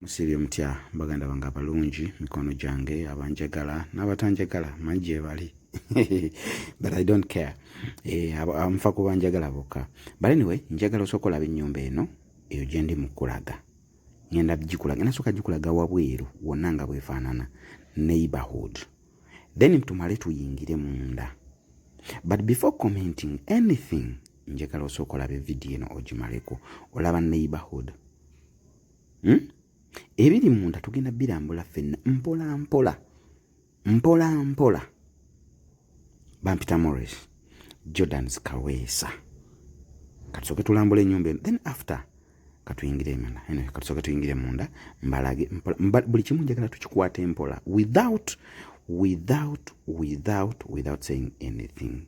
Musiibye mutya baganda bange abalungi mikono gyange abanjagala n'abatanjagala manyi gyebali but i don't care eh, nfa kuba njagala bokka but anyway njagala osooka olaba ennyumba eno eyo gye ndi mu kulaga ngenda gikulaga nasooka gikulaga wabweru wonna nga bwefaanana neighborhood then tumale tuyingire munda but before commenting anything njagala osooka olaba evidiyo eno ogimaleko olaba neighborhood hmm? ebiri munda tugenda birambula fenna mpola mpola mpola mpola bampita mores jordans kaweesa katusooke tulambula enyumba eno then after katuyingire emana anyway, katusooke tuyingire munda mbalage mpola buli kimu njagala tukikwate mpola without without without without saying anything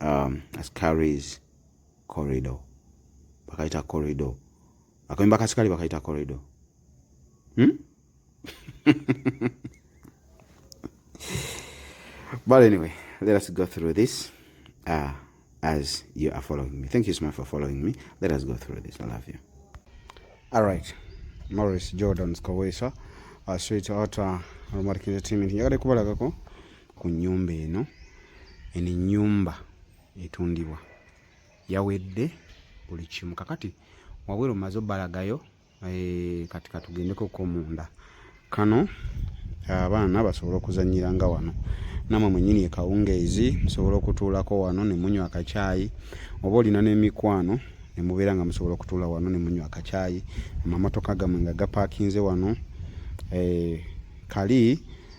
um, ascaris corridor bakayita corridor akayumba kasikali bakayita corridor hmm? but anyway let us go through this uh, as you are following me thank you so much for following me let us go through this i love you all right morris jordan skowesa uh, sweet otter uh, aromatic entertainment yagadde kubalagako ku nnyumba eno eno ennyumba etundibwa yawedde buli kimu kakati wabweru maze obalagayo eh, kati katugendeko ko munda kano abaana basobole okuzanyira nga wano namwe mwenyini ekawungeezi musobola okutuulako wano ne munywa akacaayi oba olina n'emikwano ne mubeera nga musobola okutuula wano ne munywa akacaayi amamotoka gamwe nga gapakinze wano eh, kali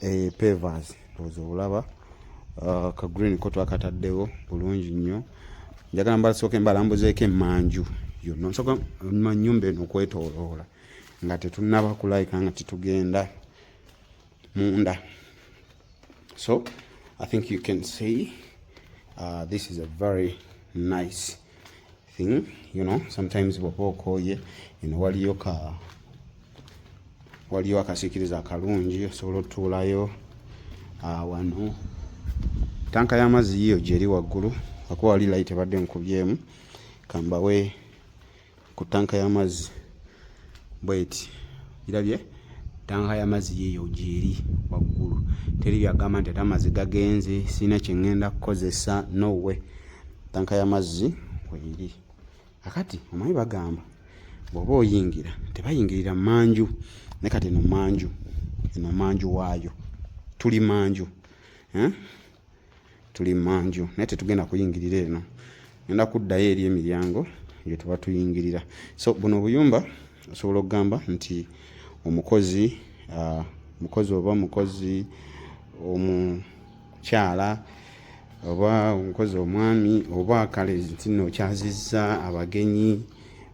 eh, pevers oza obulaba ah, ka green ko twakataddewo bulungi nnyo njagala mbalasooke mbalambuzeeko emanju yonna nsoka ma nyumba eno okwetoloola nga tetunaba kulayika nga tetugenda munda so i think you can see uh, this is a very nice thing you know sometimes bwoba okooye eno waliyo ka waliyo akasikiriza akalungi osobola otuulayo ah, wano tanka y'amazzi yiyo gyeri waggulu akuba wali layiti ebadde nkubyemu kambawe ku tanka y'amazzi bweti irabye tanka y'amazzi yiyo gyeri waggulu teri byagamba nti ate amazzi gagenze sirina kyengenda kukozesa nowe tanka y'amazzi weiri akati omanyi bagamba bwoba oyingira tebayingirira manju ne kati eno manju eno manju waayo tuli manju eh? tuli manju naye tetugenda kuyingirira eno enda kuddayo eri emiryango gye tuba tuyingirira so buno obuyumba osobola okugamba nti omukozi uh, mukozi oba mukozi omukyala oba omukozi omwami oba kale ntino okyazizza abagenyi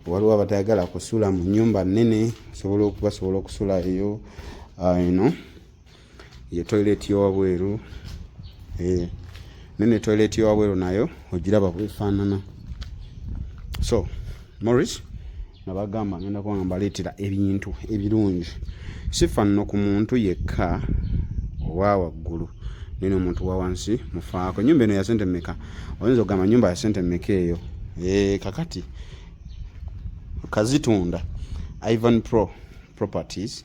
waliwo abatayagala kusula mu nyumba nene osobola okubasobola okusula eyo eno uh, you know. ye toilet yowabweru eh, nene toilet yowabweru nayo ogiraba bwefaanana so morris nabagamba ngenda kuba nga mbaleetera ebintu ebirungi sifanno ku muntu yekka owa waggulu nene omuntu wa wansi mufaako enyumba eno yasente meka oyinza okugamba nyumba yasente meka eyo eh, kakati kazitunda ivan pro properties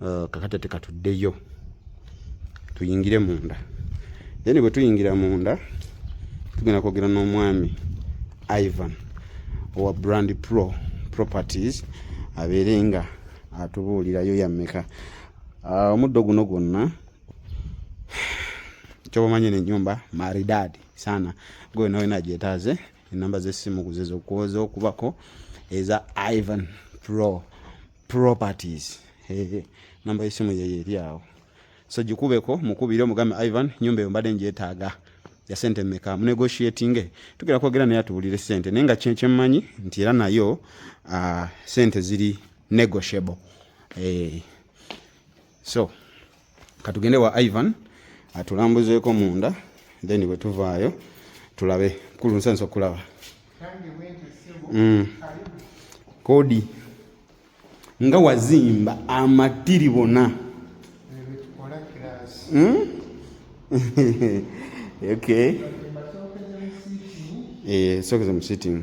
Uh, kakati ate katuddeyo tuyingire munda then bwe tuyingira munda tugenda kwogera n'omwami ivan owa brand pro properties abeere nga atubuulirayo yammeka uh, omuddo guno gwonna kyobamanyi nenyumba maridadi sana gwe nawe nagyetaaze enamba zesimu kuzezo kwoza okubako eza ivan pro properties hey, namba yesimu yeyo eri awo so gikubeko mukubire omugambe ivan nyumba eyo mbadde ngyetaaga ya sente meka munegotiatinge tugera kwogera naye atuwulire sente naye nga kyemmanyi nti era nayo uh, sente ziri negotiable hey. Eh, so katugende wa ivan atulambuzeeko munda then bwe tuvaayo tulabe kulu nsansa okulaba mm. kodi nga wazimba amatiri bona hmm? okay. e, eh, sokeza mu sitting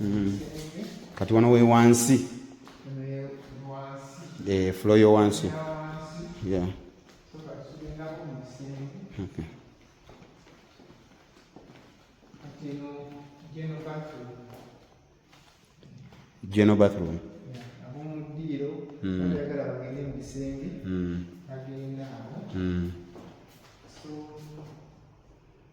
Mm. kati wano we wansi eh, flo yo wansi general bathroom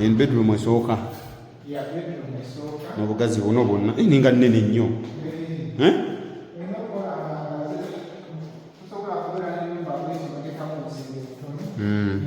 en bedroom esooka nobugazi buno bwonna eh, ninga nene nnyo eh? hmm.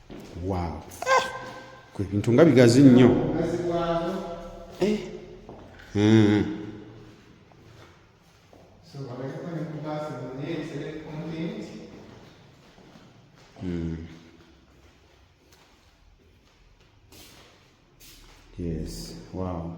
waaw ah! kwe bintu nga bigazi nnyo eh! hmm. hmm. Yes, wow.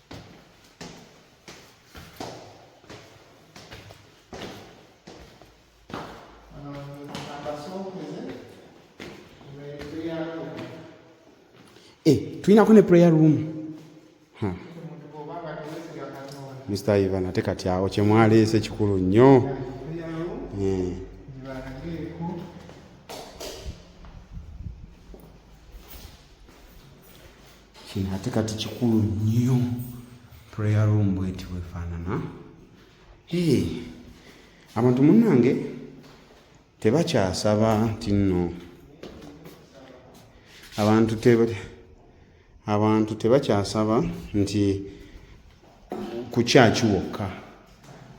Eh, tulina ko ne prayer room hmm. Mr. Ivan ate kati awo kye mwaleese kikulu nnyo hmm. kino ate kati kikulu nnyo prayer room bweti bwefaanana ee abantu munnange tebakyasaba nti nno abantu teba abantu tebakyasaba nti kukyaki wokka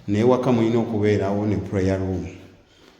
naye waka mulina okubeerawo ne prayer room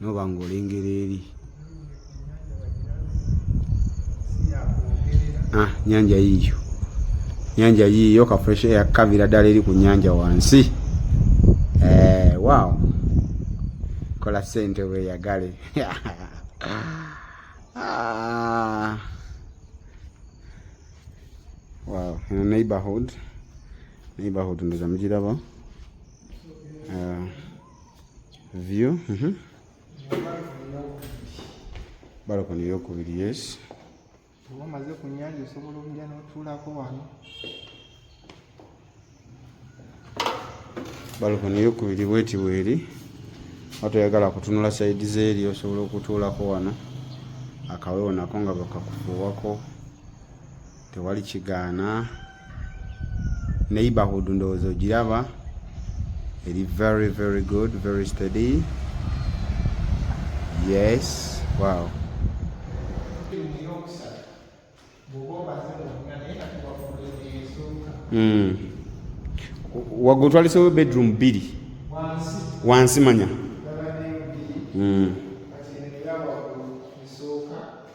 noba nga olengera eri ah, nyanja yiyo nyanja yiyo ka fresh air kabira ddala eri ku nyanja wansi eh, wow kola sente weyagale ah. wow eno neighborhood neighborhood ndoza mugiraba uh, eh. view mm -hmm. balokoni eyokubiri yes oba omaze ku nyanja osobola omuja notuulako wano balokoni eyokubiri bweti bweri watoyagala kutunula saidi zeeri osobola okutuulako wano akawewo nako nga bakakufuuwako tewali kigaana neighborhood ndowooza ogiraba eri very very good very steady yes wow mm. wagotwalisewo bedroom bbiri wansi manya mm.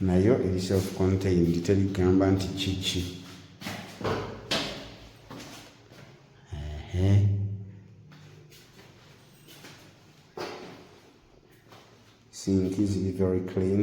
nayo eri self contained terigamba nti kiki sinki ziri very clean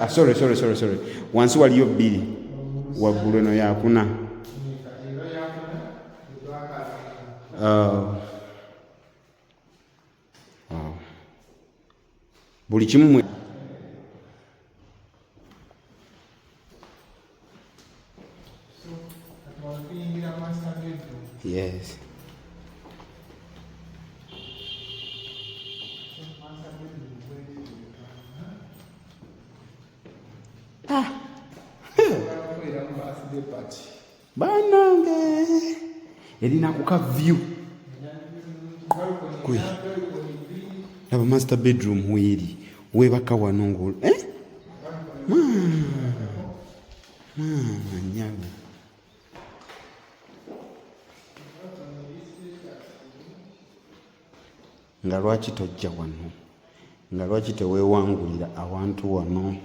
Ah, sorry, sorry, sorry, sorry. Wansi waliyo bbiri waggulu eno yakuna ah. ah. buli kimu Yes. Ah. Banange erina kuka view kwe laba master bedroom weeri webaka wano ngol eh? maama nyabo nga lwaki tojja wano nga lwaki tewewangulira awantu wano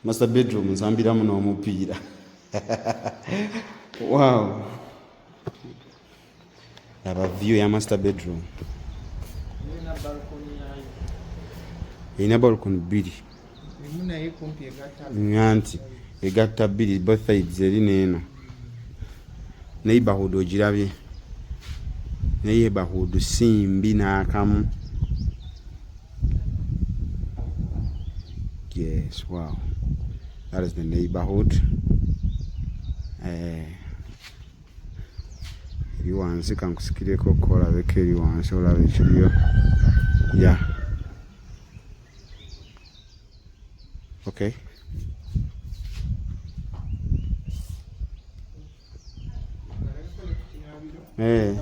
master bedroom nsambiramu n'omupiira wow laba view ya master bedroom erina balcon bbiri nganti egatta bbiri both sides eri neeno neighborhood ogirabye neighborhood si mbi naakamu yes wow that is the neighborhood eh. eri wansi kankusikireko kolabeko eri wansi olaba ekiriyo ya okay Hey. Eh.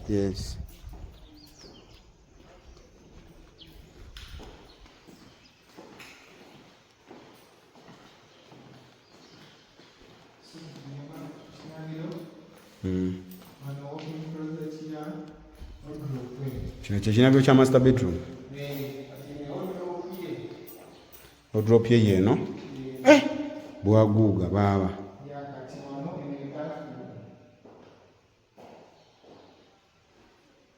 Yes. kino kyekinabiro kya master bedroom odrop ye yeeno eh! bwaguuga baaba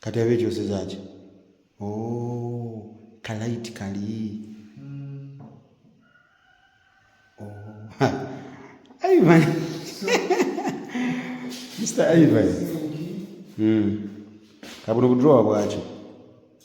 kati abe kyoseza ki o oh, kalaiti kali hmm. oh, ivan mr ivan hmm. kabuno budrowa bwakyo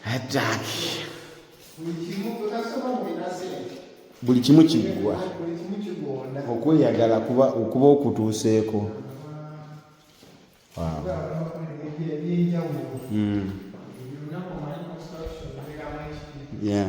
hataki buli kimu kiggwa okweyagala kuba okuba okutuuseeko hmm. yeah.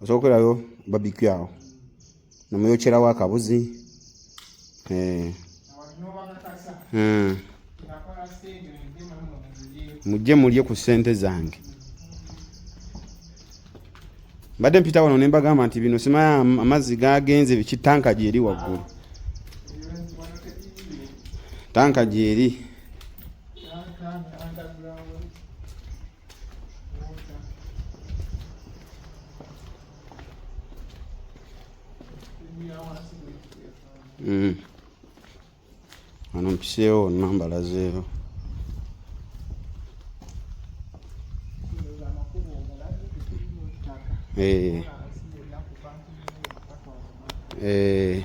osobola okwerayo babikyu awo nomuyokyerawo akabuzi eh. hmm. mujje mulye ku sente zange mbadde mpita wano nembagamba nti bino simaya amazzi gagenze biki tanka gyeri waggulu tanka gyeri Mm. Ano mpiseewo namba lazeero. Eh. Eh.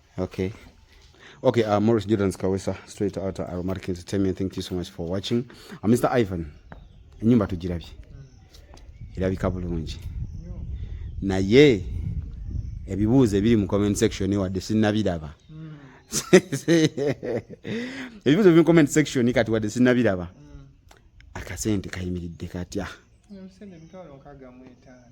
Okay. Okay, uh, Morris Jordan Kawesa, straight out of Aromatic Entertainment. Thank you so much for watching. Uh, Mr. Ivan, enyumba tujirabye. Irabika bulungi. Naye ebibuuzo ebiri mu comment section wadde sinnabiraba. Hmm. Ebibuuzo ebiri mu comment section kati wadde sinnabiraba. Hmm. Akasente kayimiridde katya? Omusente emitwalo nkaaga mu etaano.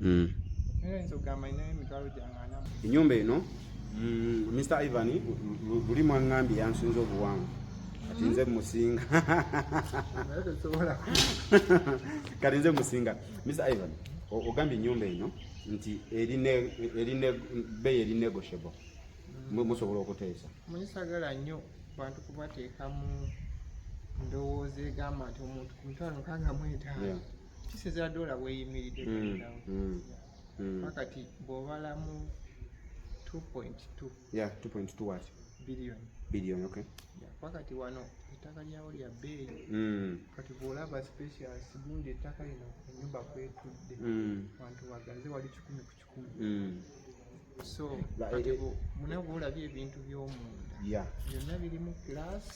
Mm. enyumba eno Mr. Mm, Ivan buli mwaŋŋambye yansinza obuwanvu kati nze musinga kati nze musinga Mr. Ivan ogambye ennyumba eno nti eri ne bbeeyi eri negotiable mwe musobola okuteesa munisagala nnyo bantu kubateekamu ndowooza egamba nti omuntu ku mitwalo nkaaga mu etaano kisinzira doola bweyimiridde wakati mm, mm, mm. bw'obalamu 2.2 billion billion okay wakati wano ettaka lyawo lya bbeeyi kati bw'olaba specials gundi ettaka lino enyumba kwetudde wantu wagaze wali kikumi ku kikumi mm. so kati mune bwolabye ebintu byomunda byonna biri mu class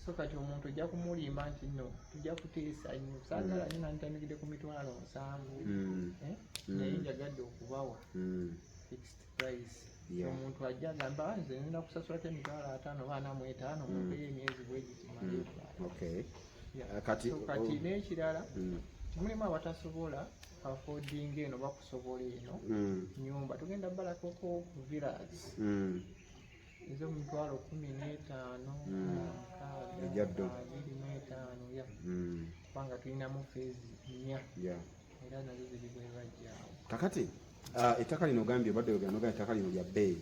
so kati omuntu ojja kumulimba nti no tujja kuteesa nnyo saagala nyo nantandikidde ku mitwalo nsanvu mm. eh? mm. naye njagadde okubawa fixed price omuntu ajja agamba ah, nze nina kusasulako emitwalo ataano baana mu etaano mumpeyo emyezi bwegikimayo kati n'ekirala mulimu abatasobola afodinga eno bakusobola eno hmm. nyumba tugenda balakoko village hmm. ezo mutwalo kumi n'etaano hmm. abiri n'etaano ya kubanga tulinamu feezi nnya era nazo ziri bwebajjaawo kakati ah, ettaka lino ogambye obadde ogambye ettaka lino lya bbeeyi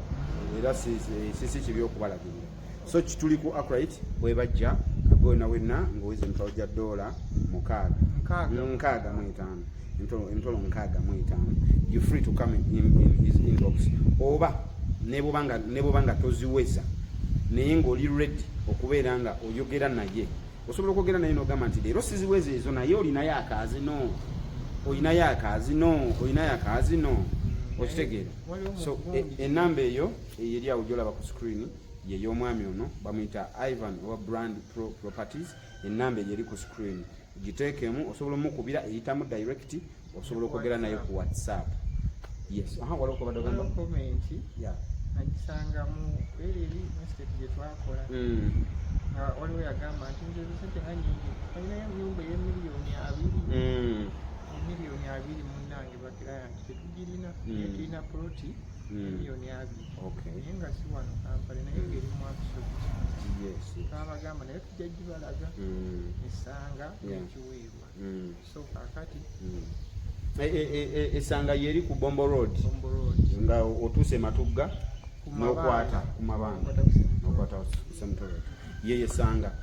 era sisi kibi okubalagirira so kituli ku akrit webajja kagona wenna ngaowiza emitwalo gya doola mukaaga nkaaga mu etaano emitwalo nkaaga mu etaano you free to come in, in his inbox oba nebwoba nga toziweza naye ngaoli ready okubeera nga oyogera naye osobola okwogera naye nogamba nti leero siziweza ezo naye olinayo akaazi no olinayo akaazi no olinayo akaazi no okitegeera so e, enamba eyo eyeri awo gyolaba ku screen yeyomwami ono bamuyita ivan owa brand pro properties enamba eyo eri ku screen giteekemu osobola omukubira eyitamu direct osobola okwogera naye ku whatsapp yes aha waliwo kubadde ogamba comment yeah nagisangamu era eri mistake gye twakola mm. nga waliwo yagamba nti nze zisente nga nyingi alinayo enyumba ey'emiliyoni abiri mm. emiliyoni abiri munange tetugirina mm. naye tulina poloti mm. miliyoni abiri naye nga si wano kampala naye mm. ngeri mwakusozi twabagamba naye tujja gibalaga esanga ekiweebwa so kakati eh, eh, eh, esanga yeri ku bombo road nga otuuse matugga nokwata kumabanga nokwata kusemtoro yeyesanga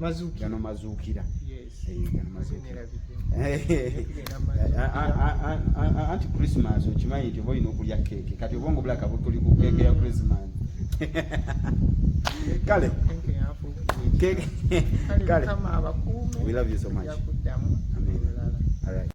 mazuukira gano mazuukira anti christmas okimanyi nti oba olina okulya keeke kati obwongo bulaka butuli ku keeke ya christmas kale kale we love you so much Amen. All right.